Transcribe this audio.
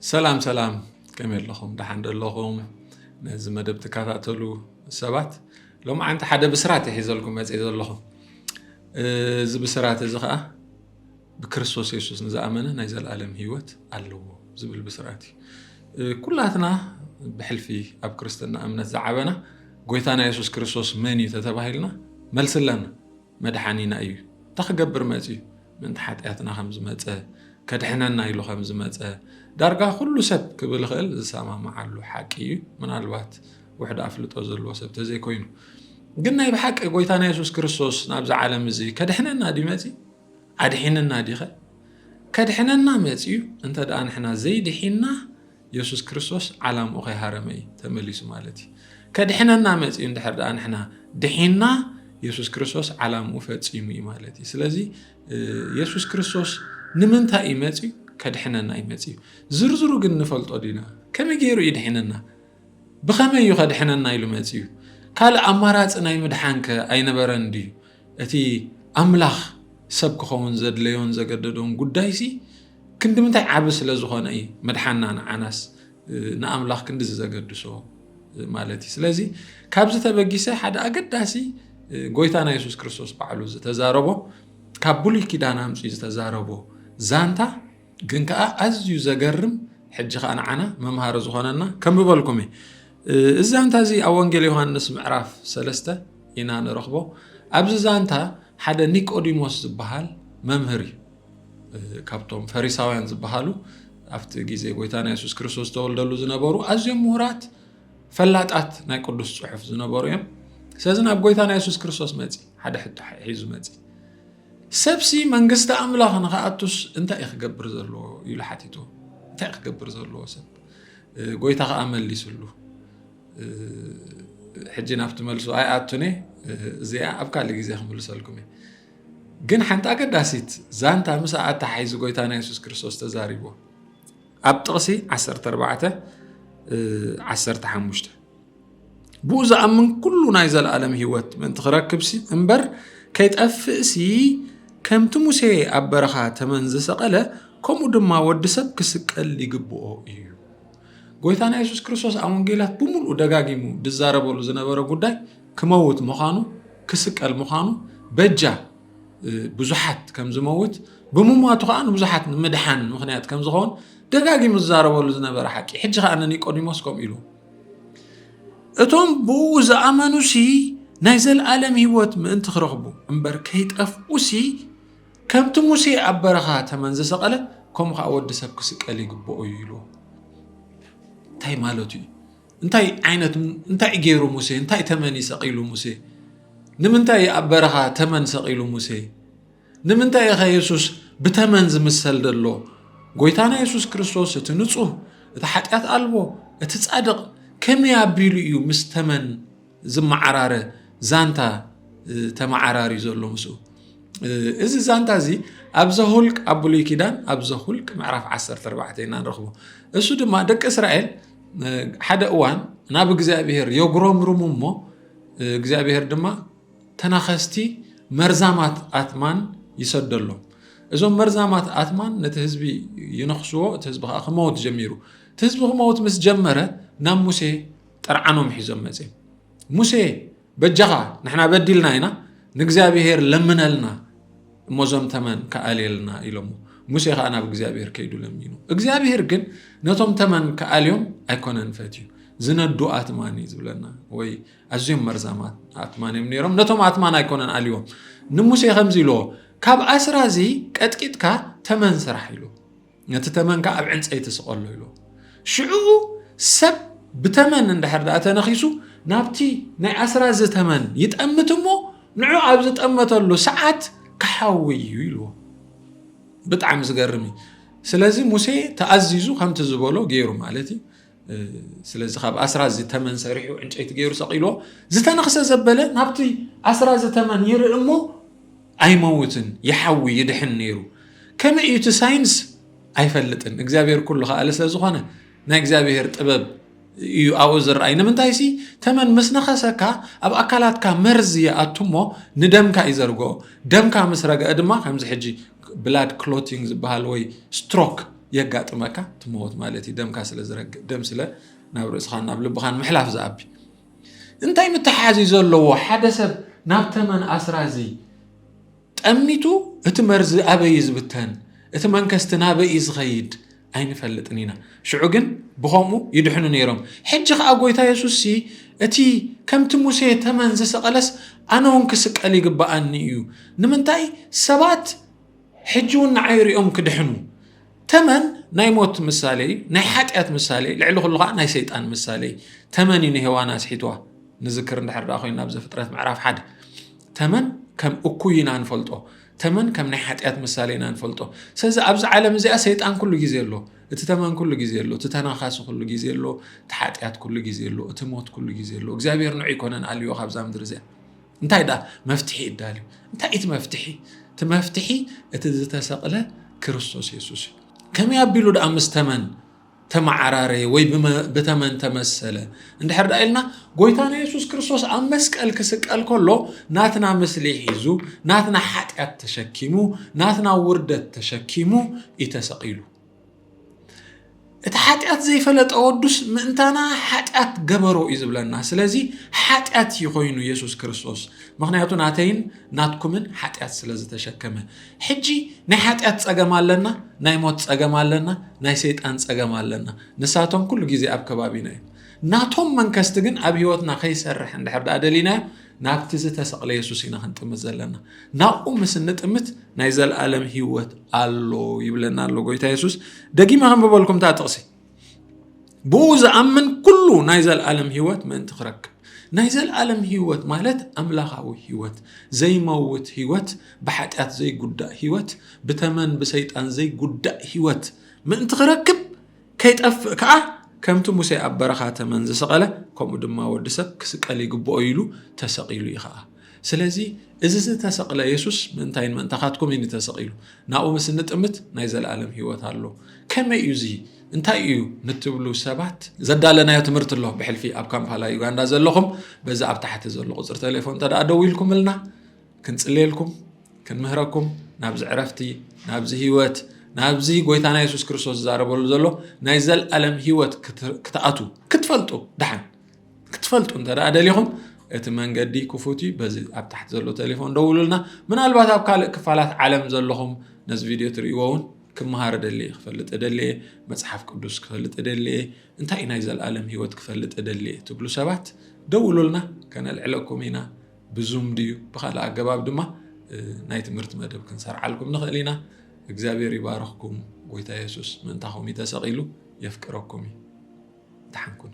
ሰላም ሰላም ከመይ ኣለኹም ደሓን ዶ ኣለኹም ነዚ መደብ ትከታተሉ ሰባት ሎሚ ዓንቲ ሓደ ብስራት ይሒዘልኩም መፅእ ዘለኹም እዚ ብስራት እዚ ከዓ ብክርስቶስ የሱስ ንዝኣመነ ናይ ዘለኣለም ሂወት ኣለዎ ዝብል ብስራት እዩ ኩላትና ብሕልፊ ኣብ ክርስትና እምነት ዝዓበና ጎይታና የሱስ ክርስቶስ መን እዩ ተተባሂልና መልሲ ኣለና መድሓኒና እዩ እንታይ ክገብር መፅዩ ምእንቲ ሓጢኣትና ከም ዝመፀ ከድሕነና ኢሉ ከም ዝመፀ ዳርጋ ኩሉ ሰብ ክብል ይኽእል ዝሰማምዓሉ ሓቂ እዩ ምናልባት ውሕድ ኣፍልጦ ዘለዎ ሰብ ተዘይኮይኑ ግን ናይ ብሓቂ ጎይታና የሱስ ክርስቶስ ናብዚ ዓለም እዚ ከድሕነና ድዩ መፂ ኣድሒንና ዲኸ ከድሕነና መፂዩ እንተ ደኣ ንሕና ዘይድሒና የሱስ ክርስቶስ ዓላምኡ ከይሃረመ እዩ ተመሊሱ ማለት እዩ። ከድሕነና መጺኡ እንድሕር ደኣ ንሕና ድሒንና የሱስ ክርስቶስ ዓላምኡ ፈጺሙ እዩ ማለት እዩ። ስለዚ የሱስ ክርስቶስ ንምንታይ እዩ መጺኡ? ከድሕነና እዩ መጺኡ። ዝርዝሩ ግን ንፈልጦ ዲና? ከመይ ገይሩ እዩ ድሒነና? ብኸመይ እዩ ከድሕነና ኢሉ መጺኡ? ካልእ ኣማራጺ ናይ ምድሓንከ ኣይነበረን ድዩ? እቲ ኣምላኽ ሰብ ክኸውን ዘድለዮን ዘገደዶን ጉዳይሲ ክንዲ ምንታይ ዓቢ ስለ ዝኾነ እዩ ምድሓና ንዓናስ ንኣምላኽ ክንዲዚ ዘገድሶ ማለት እዩ ስለዚ ካብዚ ተበጊሰ ሓደ ኣገዳሲ ጎይታና የሱስ ክርስቶስ ባዕሉ ዝተዛረቦ ካብ ብሉይ ኪዳን ኣምፅኡ ዝተዛረቦ ዛንታ ግን ከዓ ኣዝዩ ዘገርም ሕጂ ከዓ ንዓና መምሃሪ ዝኾነና ከምበልኩም እየ እዚ ዛንታ እዚ ኣብ ወንጌል ዮሃንስ ምዕራፍ ሰለስተ ኢና ንረኽቦ። ኣብዚ ዛንታ ሓደ ኒቆዲሞስ ዝበሃል መምህር እዩ። ካብቶም ፈሪሳውያን ዝበሃሉ ኣብቲ ግዜ ጎይታና የሱስ ክርስቶስ ዝተወልደሉ ዝነበሩ ኣዝዮም ምሁራት ፈላጣት ናይ ቅዱስ ጽሑፍ ዝነበሩ እዮም ስለዚ ናብ ጎይታና የሱስ ክርስቶስ መጺ ሓደ ሕቶ ሒዙ መጺ ሰብሲ መንግስቲ ኣምላኽ ንክኣቱስ እንታይ እዩ ክገብር ዘለዎ ኢሉ ሓቲቱ እንታይ ክገብር ዘለዎ ሰብ ጎይታ ከኣ መሊስሉ ሕጂ ናብቲ መልሱ ኣይኣቱን እዚኣ ኣብ ካልእ ግዜ ክምልሰልኩም እየ ግን ሓንቲ ኣገዳሲት ዛንታ ምስ ኣተሓሒዙ ጎይታና የሱስ ክርስቶስ ተዛሪብዎ ኣብ ጥቕሲ 14 15 ብኡ ዝኣምን ኩሉ ናይ ዘለኣለም ህይወት ምእንቲ ክረክብሲ እምበር ከይጠፍእሲ ከምቲ ሙሴ ኣብ በረኻ ተመን ዝሰቐለ ከምኡ ድማ ወዲ ሰብ ክስቀል ይግብኦ እዩ ጎይታና የሱስ ክርስቶስ ኣብ ወንጌላት ብምልኡ ደጋጊሙ ዝዛረበሉ ዝነበረ ጉዳይ ክመውት ምዃኑ ክስቀል ምዃኑ በጃ ብዙሓት ከም ዝመውት ብምሟቱ ከዓ ንብዙሓት ንምድሓን ምክንያት ከም ዝኸውን ደጋጊሙ ዝዛረበሉ ዝነበረ ሓቂ ሕጂ ከዓ ንኒቆዲሞስ ከምኡ ኢሉ እቶም ብእኡ ዝኣመኑሲ ናይ ዘለኣለም ህይወት ምእንቲ ክረኽቡ እምበር ከይጠፍኡሲ ከምቲ ሙሴ ኣብ በረኻ ተመን ዝሰቐለ ከምኡ ከዓ ወዲ ሰብ ክስቀል ይግብኦ እዩ ኢሉ እንታይ ማለቱ እዩ እንታይ ዓይነት እንታይ ገይሩ ሙሴ እንታይ ተመን ይሰቂሉ ሙሴ ንምንታይ ኣብ በረኻ ተመን ሰቂሉ ሙሴ ንምንታይ ኢኸ የሱስ ብተመን ዝምሰል ዘሎ? ጐይታና የሱስ ክርስቶስ እቲ ንጹህ፣ እቲ ሓጢኣት ኣልቦ፣ እቲ ጻድቕ ከመይ ኣቢሉ እዩ ምስ ተመን ዝመዓራረ ዛንታ ተመዓራሪ ዘሎ ምስኡ? እዚ ዛንታ እዚ ኣብ ዘሁልቅ ኣብ ብሉይ ኪዳን ኣብ ዘሁልቅ ምዕራፍ 14 ኢና ንረኽቦ እሱ ድማ ደቂ እስራኤል ሓደ እዋን ናብ እግዚኣብሄር የጉረምርሙ እሞ እግዚኣብሄር ድማ ተናኸስቲ መርዛማት ኣትማን ይሰደሎም። እዞም መርዛማት ኣትማን ነቲ ህዝቢ ይነኽስዎ፣ እቲ ህዝቢ ከዓ ክመውት ጀሚሩ። እቲ ህዝቢ ክመውት ምስ ጀመረ ናብ ሙሴ ጥርዓኖም ሒዞም መፅም ሙሴ በጃኻ ንሕና በዲልና ኢና ንእግዚኣብሄር ለምነልና እሞ እዞም ተመን ክኣልየልና ኢሎሞ ሙሴ ከዓ ናብ እግዚኣብሄር ከይዱ ለሚኑ እግዚኣብሄር ግን ነቶም ተመን ክኣልዮም ኣይኮነን ፈትዩ ዝነዱ ኣትማን እዩ ዝብለና ወይ ኣዝዮም መርዛማት ኣትማን እዮም ነይሮም ነቶም ኣትማን ኣይኮነን ኣልዎም ንሙሴ ከምዚ ኢልዎ ካብ ኣስራ እዚ ቀጥቂጥካ ተመን ስራሕ ኢሉ ነቲ ተመን ከዓ ኣብ ዕንፀይቲ ስቐሎ ኢሉ ሽዑኡ ሰብ ብተመን እንድሕር ድኣ ተነኺሱ ናብቲ ናይ ኣስራ እዚ ተመን ይጠምት እሞ ንዑ ኣብ ዝጠመተሉ ሰዓት ክሓዊ እዩ ኢልዎ ብጣዕሚ ዝገርም እዩ ስለዚ ሙሴ ተኣዚዙ ከምቲ ዝበሎ ገይሩ ማለት እዩ ስለዚ ካብ ኣስራዚ ተመን ሰሪሑ ዕንጨይቲ ገይሩ ሰቒልዎ ዝተነኽሰ ዘበለ ናብቲ ኣስራዚ ተመን ይርኢ እሞ ኣይመውትን ይሓዊ ይድሕን ነይሩ ከመይ እዩ እቲ ሳይንስ ኣይፈልጥን እግዚኣብሔር ኩሉ ከኣለ ስለ ዝኾነ ናይ እግዚኣብሔር ጥበብ እዩ ኣብኡ ዝረኣይ ንምንታይ ሲ ተመን ምስ ነኸሰካ ኣብ ኣካላትካ መርዚ ይኣቱ እሞ ንደምካ እዩ ዘርግኦ ደምካ ምስ ረግአ ድማ ከምዚ ሕጂ ብላድ ክሎቲንግ ዝበሃል ወይ ስትሮክ የጋጥመካ ትመወት ማለት እዩ ደምካ ስለ ዝረግእ ደም ስለ ናብ ርእስኻን ናብ ልብኻን ምሕላፍ ዝኣቢ እንታይ ምትሓሓዝ እዩ ዘለዎ ሓደ ሰብ ናብ ተመን ኣስራዚ ጠሚቱ እቲ መርዚ ኣበይ እዩ ዝብተን እቲ መንከስቲ ናበይ እዩ ዝኸይድ ኣይንፈልጥን ኢና ሽዑ ግን ብከምኡ ይድሕኑ ነይሮም ሕጂ ከዓ ጎይታ የሱስ ሲ እቲ ከምቲ ሙሴ ተመን ዝሰቐለስ ኣነ እውን ክስቀል ይግባኣኒ እዩ ንምንታይ ሰባት ሕጂ እውን ንዓይ ሪኦም ክድሕኑ ተመን ናይ ሞት ምሳሌ እዩ ናይ ሓጢኣት ምሳሌ ልዕሊ ኩሉ ከዓ ናይ ሰይጣን ምሳሌ እዩ ተመን እዩ ንሄዋን ኣስሒትዋ ንዝክር እንድሕር ዳ ኮይና ኣብዚ ፍጥረት ምዕራፍ ሓደ ተመን ከም እኩይ ኢና ንፈልጦ ተመን ከም ናይ ሓጢኣት ምሳሌ ኢና ንፈልጦ ስለዚ ኣብዚ ዓለም እዚኣ ሰይጣን ኩሉ ግዜ ኣሎ እቲ ተመን ኩሉ ግዜ ኣሎ እቲ ተናኻሲ ኩሉ ግዜ ኣሎ እቲ ሓጢኣት ኩሉ ግዜ ኣሎ እቲ ሞት ኩሉ ግዜ ኣሎ እግዚኣብሔር ንዑ ይኮነን ኣልዮ ካብዛ ምድሪ እዚኣ እንታይ ደኣ መፍትሒ እዳልዩ? እንታይ እቲ መፍትሒ? እቲ መፍትሒ እቲ ዝተሰቕለ ክርስቶስ የሱስ እዩ። ከመይ ኣቢሉ ደኣ ምስ ተመን ተመዓራረየ ወይ ብተመን ተመሰለ እንድሕር ዳ ኢልና ጎይታና የሱስ ክርስቶስ ኣብ መስቀል ክስቀል ከሎ ናትና ምስሊ ሒዙ ናትና ሓጢኣት ተሸኪሙ ናትና ውርደት ተሸኪሙ እዩ ተሰቒሉ እቲ ሓጢኣት ዘይፈለጠ ወዱስ ምእንታና ሓጢኣት ገበሮ እዩ ዝብለና ስለዚ ሓጢኣት እዩ ኮይኑ የሱስ ክርስቶስ ምክንያቱ ናተይን ናትኩምን ሓጢኣት ስለ ዝተሸከመ ሕጂ ናይ ሓጢኣት ፀገም ኣለና ናይ ሞት ፀገም ኣለና ናይ ሰይጣን ፀገም ኣለና ንሳቶም ኩሉ ግዜ ኣብ ከባቢና እዩ ናቶም መንከስቲ ግን ኣብ ሂወትና ከይሰርሕ እንድሕር ደኣ ደሊናዮ ናብቲ ዝተሰቕለ የሱስ ኢና ክንጥምት ዘለና። ናብኡ ምስ እንጥምት ናይ ዘለኣለም ህይወት ኣሎ ይብለና ኣሎ ጎይታ የሱስ። ደጊመ ከንብበልኩም እታ ጥቕሲ ብኡ ዝኣምን ኩሉ ናይ ዘለኣለም ህይወት ምእንቲ ክረክብ ናይ ዘለኣለም ህይወት ማለት ኣምላኻዊ ህይወት ዘይመውት ህይወት ብሓጢኣት ዘይጉዳእ ህይወት ብተመን ብሰይጣን ዘይጉዳእ ህይወት ምእንቲ ክረክብ ከይጠፍእ ከኣ ከምቲ ሙሴ ኣብ በረኻ ተመን ዝሰቐለ ከምኡ ድማ ወዲ ሰብ ክስቀል ይግብኦ ኢሉ ተሰቒሉ እዩ ኸኣ ስለዚ እዚ ዝተሰቕለ የሱስ ምእንታይን ምእንታኻትኩም እዩ ተሰቒሉ ናብኡ ምስ እንጥምት ናይ ዘለኣለም ህይወት ኣሎ ከመይ እዩ እዚ እንታይ እዩ ንትብሉ ሰባት ዘዳለናዮ ትምህርቲ ኣሎ ብሕልፊ ኣብ ካምፓላ ዩጋንዳ ዘለኹም በዚ ኣብ ታሕቲ ዘሎ ቁፅሪ ቴሌፎን ተደኣ ደው ኢልኩምልና ክንጽልየልኩም ክንምህረኩም ናብዚ ዕረፍቲ ናብዚ ህይወት ናብዚ ጎይታና የሱስ ክርስቶስ ዝዛረበሉ ዘሎ ናይ ዘለኣለም ህይወት ክትኣቱ ክትፈልጡ ድሓን ክትፈልጡ እንተ ደሊኹም እቲ መንገዲ ክፉት እዩ በዚ ኣብ ታሕቲ ዘሎ ቴሌፎን ደውሉልና ምናልባት ኣብ ካልእ ክፋላት ዓለም ዘለኹም ነዚ ቪድዮ ትርእይዎ እውን ክምሃር ደልየ ክፈልጥ ደልየ መፅሓፍ ቅዱስ ክፈልጥ ደልየ እንታይ ናይ ዘለኣለም ህይወት ክፈልጥ ደልየ ትብሉ ሰባት ደውሉልና ከነልዕለኩም ኢና ብዙም ድዩ ብካልእ ኣገባብ ድማ ናይ ትምህርቲ መደብ ክንሰርዓልኩም ንኽእል ኢና። እግዚኣብሔር ይባርኽኩም። ጎይታ የሱስ ምእንታኹም እዩ ተሰቒሉ። የፍቅረኩም እዩ። ደሓን ኩኑ።